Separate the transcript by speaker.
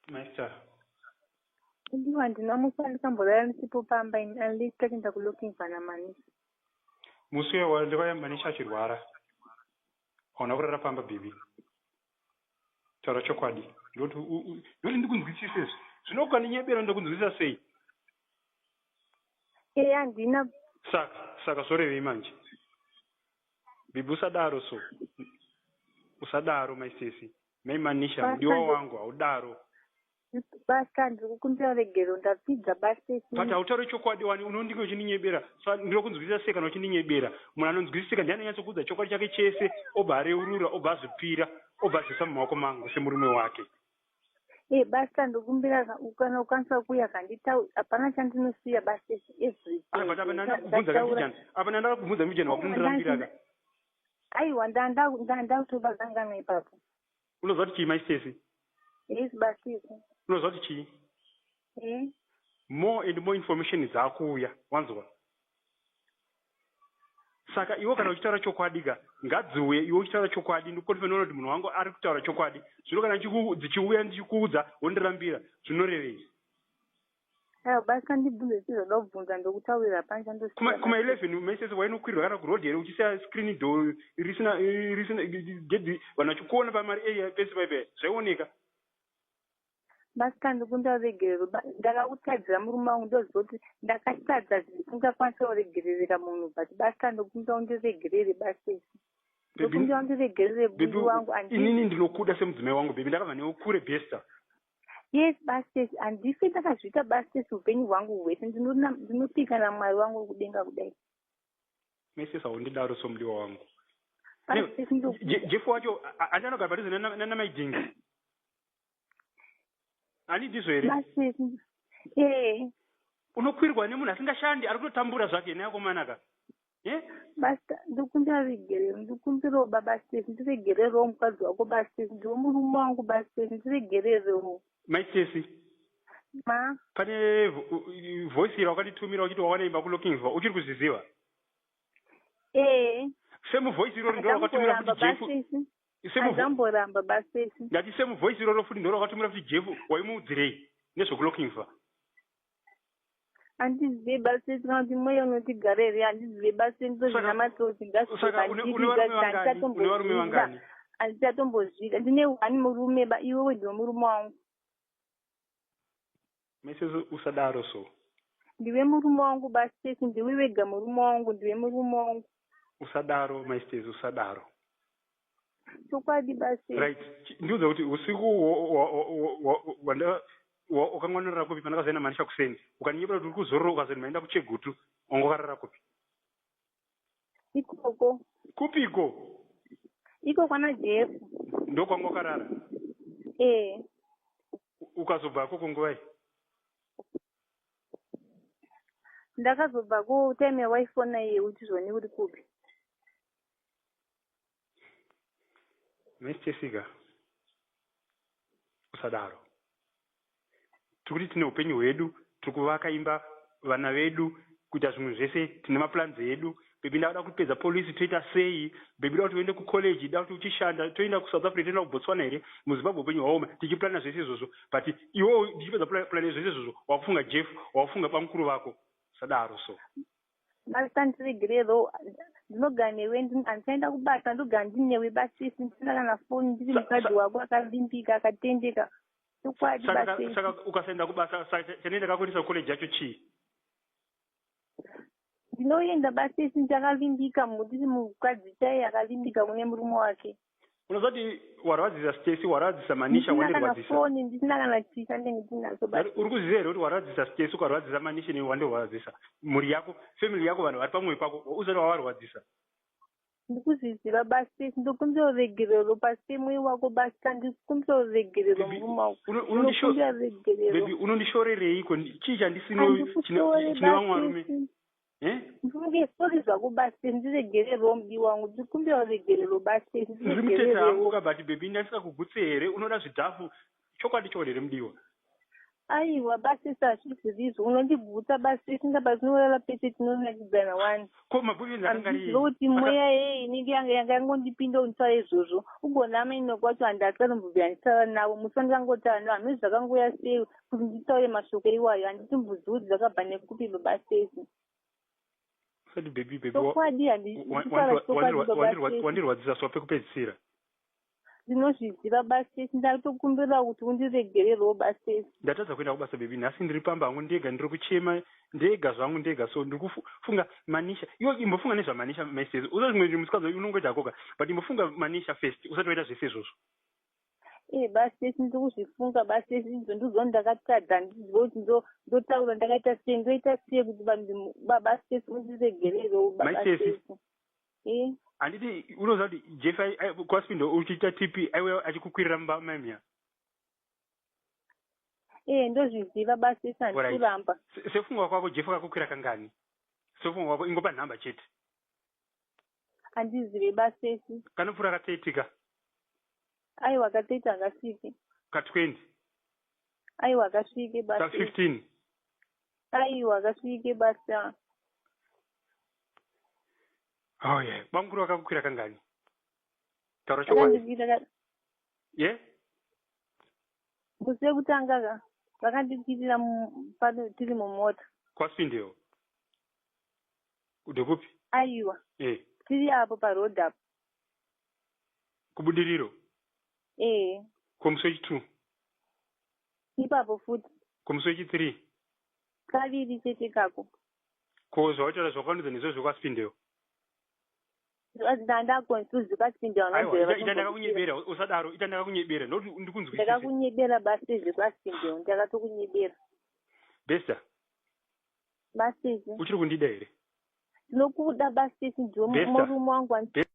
Speaker 1: Master. Ndiwo handina musi wandikamborara ndisipo pamba ini unless takuenda kulooking vana manisi. Musi uya wandivaya manisi achirwara. Hauna kurara pamba baby. Taura chokwadi. Ndoti ndoti ndikunzwisise izvi. Zvino ukandinyebera ndakunzwisisa sei? Eya handina. Saka saka zvorevei manje? Bibi usadaro so. Usadaro my sisi. Mai Manisha mudiwa wangu haudaro. Basta ndiri kukumbira regero ndapfidza basta isi. But hautauri chokwadi wani unondinge uchindinyebera. So ndiri kunzwisisa sei kana uchindinyebera. Munhu anonzwisisika ndiye anonyatsokuudza chokwadi chake chese obva areurura obva azvipira obva azvisa mumaoko mangu semurume wake. Eh hey, basta ndokumbira kana ukwanisa kuuya kanditau hapana chandinosiya basta isi everything. Ah but apa ndandakubvunza kandijana. Apa ndandakubvunza mujana wakundirambira ka. aiwa ndakutoba kanganwa ipapo unozwa kuti chii mai stesi yes basisi unozwa kuti chii e more and more information dzaakuuya wanzwa saka iwo kana uchitaura chokwadi ka ngadziuye iwo uchitaura chokwadi ndikukonfenoona kuti munhu wangu ari kutaura chokwadi zvino kana dzichiuya ndichikuudza wondirambira zvinorevei Ayo basi kandibvunze zvichizoda kubvunza ndokutaurira panje andosiya. Kuma kuma 11 message wainokwirwa kana kuroad here uchisiya screen door risina risina gedhi vanhu vachikuona pamari area pese paipe zvaioneka. Basi kandikunda uregerero ndakakutadzira murume wangu ndoziva kuti ndakatadza zvisingakwanisa kuregerereka munhu but basi kandikunda undiregerere basi esi. Ndokunda undiregerere bundi wangu andii. Inini ndinokuda semudzimai wangu baby ndakabva newe kure bester. yes bastes handife ndakazviita bastes upenyu hwangu hwese ndinopika namwari wangu wekudenga kudai mese saundidaro somudiwa wangu jefu wacho andi anogara padhuze nanamaidingi ani ndizvo here ee unokwirwa nemunhu asingashandi ari kutotambura zvake neakomanaka Basta ndikumbira vigere ndikumbirawo baba Steve ndiregererewo mukadzi wako baba Steve ndiwe murume wangu baba Steve ndiregererewo mai Stacey ma pane voice ira wakanditumira uchiti wawanaimba kulokingsva uchiri kuzviziva ee semuvoice irori ndo rakatumira kuti jefu semuvoiceamboramba baba Stacey ndati semuvoice iroro futi ndo rakatumira kuti jefu waimuudzirei nezvekulokingsva handizive basi kana kuti mweya unoti gare here handizive basi ndozvinamatsotsingasaaaichatombozviita handichatombozviita ndine one murume ba iwe wediwe murume wangu mese usadaro so ndiwe murume wangu bastesi ndiwe wega murume wangu ndiwe murume wangu usadaro maistesi usadaro chokwadi basi right ndiudza kuti usiku wakangwanorara kupi pana kazoenda manisha kuseni ukaninyebura kuti uri kuzorora ukazoti maenda kuchegutu wanga wakarara kupi ikoko kupiko iko kwana jefu ndo kwanga wakarara ee ukazobva koko nguvai ndakazobva ku time yawaifona iye uchizvone uri kupi Miss Jessica, usadaro. Tiri kuti tine upenyu hwedu, tiri kuvaka imba, vana vedu, kuita zvimwe zvese, tine maplans edu. Baby ndavada kupedza police toita sei? Baby da kuti uende kucollege, da kuti uchishanda, toenda kuSouth Africa, toenda kuBotswana here? MuZimbabwe upenyu hwaoma, tichiplana zvese izvozvo. But iwewo ndichipedza plan zvese izvozvo, wakufunga Jeff, wakufunga bamukuru vako. Usadaro so. Master ndiregere though ndinogara newe handichaenda kubasa ndogara ndiri newe basisi ndisina kana foni ndiri mukadzi wako akavimbika akatendeka chokwadi basisaka ukasaenda kubasa chanei ndakakuendesa kucollege yacho chii ndinoenda basisi ndichakavimbika ndiri mukadzi chaiye akavimbika kune murume wake unozoti warwadzisa stesi warwadzisa manisha wandirwadzisafoni ndisina kana chisa ndenge tinaso uri kuziva here kuti warwadzisa stesi ukarwadzisa manisha ne wandirwadzisa mhuri yako family yako vanhu vari pamwoyo pako uzoti wavarwadzisa ndikuzviziva basi ndokumbira uregerero pasi mwiri wako basi kandikumbira uregerero murumaokumbira regerero unondishorereiko chii chandisinochine vamwe varume ndisori zvakubatsira ndiregere rombi wangu ndikumbira uregere rubatsira ndiri mutete hangu ka but bebi ndandisakugutsi here unoda zvidhafu chokwadi chokwadi here mudiwa aiwa basisa hazvizirizo unondigutsa basi tinga pazinorara pese tinonakidzana wani ko mabuvini akangaizoti mweya yei inenge yanga yanga yangondipinda kunditaura izvozvo ugonama ino kwacho handakari mubvubvi handitaura navo musi wandikangotara navo hameno zvakangoya sei Kuti nditaure mashoko iwayo handiti mbuzudzi dzakabva nekupi baba Stacey. Usati baby baby. Chokwadi handiti kutaura chokwadi baba Stacey. Wandirwadzisa so pekupedzisira. Ndinozviziva baba Stacey ndatokumbira kuti undiregererwo baba Stacey. Ndatadza kuenda kubasa baby nhasi ndiri pamba hangu ndega ndiri kuchema ndega zvangu ndega so ndiri kufunga Manisha. Iwe imbofunga nezva Manisha my Stacey. Usa zvimwe zvinhu musikadzi unongoita hakoka but imbofunga Manisha first usati waita zvese izvozvo. ee eh, basi tese ndikuzvifunga basi tese idzo ndidzo ndakatadza ndizive kuti ndotaura ndakaita sei ndoita sei kuti vanhu basi tese undiregererewo baasesi ee eh? handiti unoziva kuti jeff kwaspindo uchiita tp aiwe achikukwirira mumba maimia ee eh, ndozviziva basi tese handikuramba sefungwa kwako jeff akakukwira kangani sefungwa kwako ingopa nhamba chete andizive basesi kanopfura katseitika aiwa katseiti akasvike ka 20 aiwa akasvike ka basi 15 aiwa akasvike basi ah. oh yeah bamukuru vakakukwira kangani taura chokwadi akandikwira ka- ye musi wekutanga ka vakandikwirira mu- pano tiri mumota kwasvindewo Ndekupi? Aiwa. Eh. Tiri apo pa road apo. Kubudiriro? Eh. Komuswechi 2. Ipapo futi. Komuswechi 3. Kaviri chete kako. Ko zvawataura zvakaunudza nezvo zvokwasipindewo? ndanga confused kwasinde ita ndakakunyebera usadaro ita ndakakunyebera nokuti ndikunzwisisa ndakakunyebera basi zvekwasinde ndakatokunyebera besta basisi uchiri kundida here ndinokuda basisi ndiwe murume wangu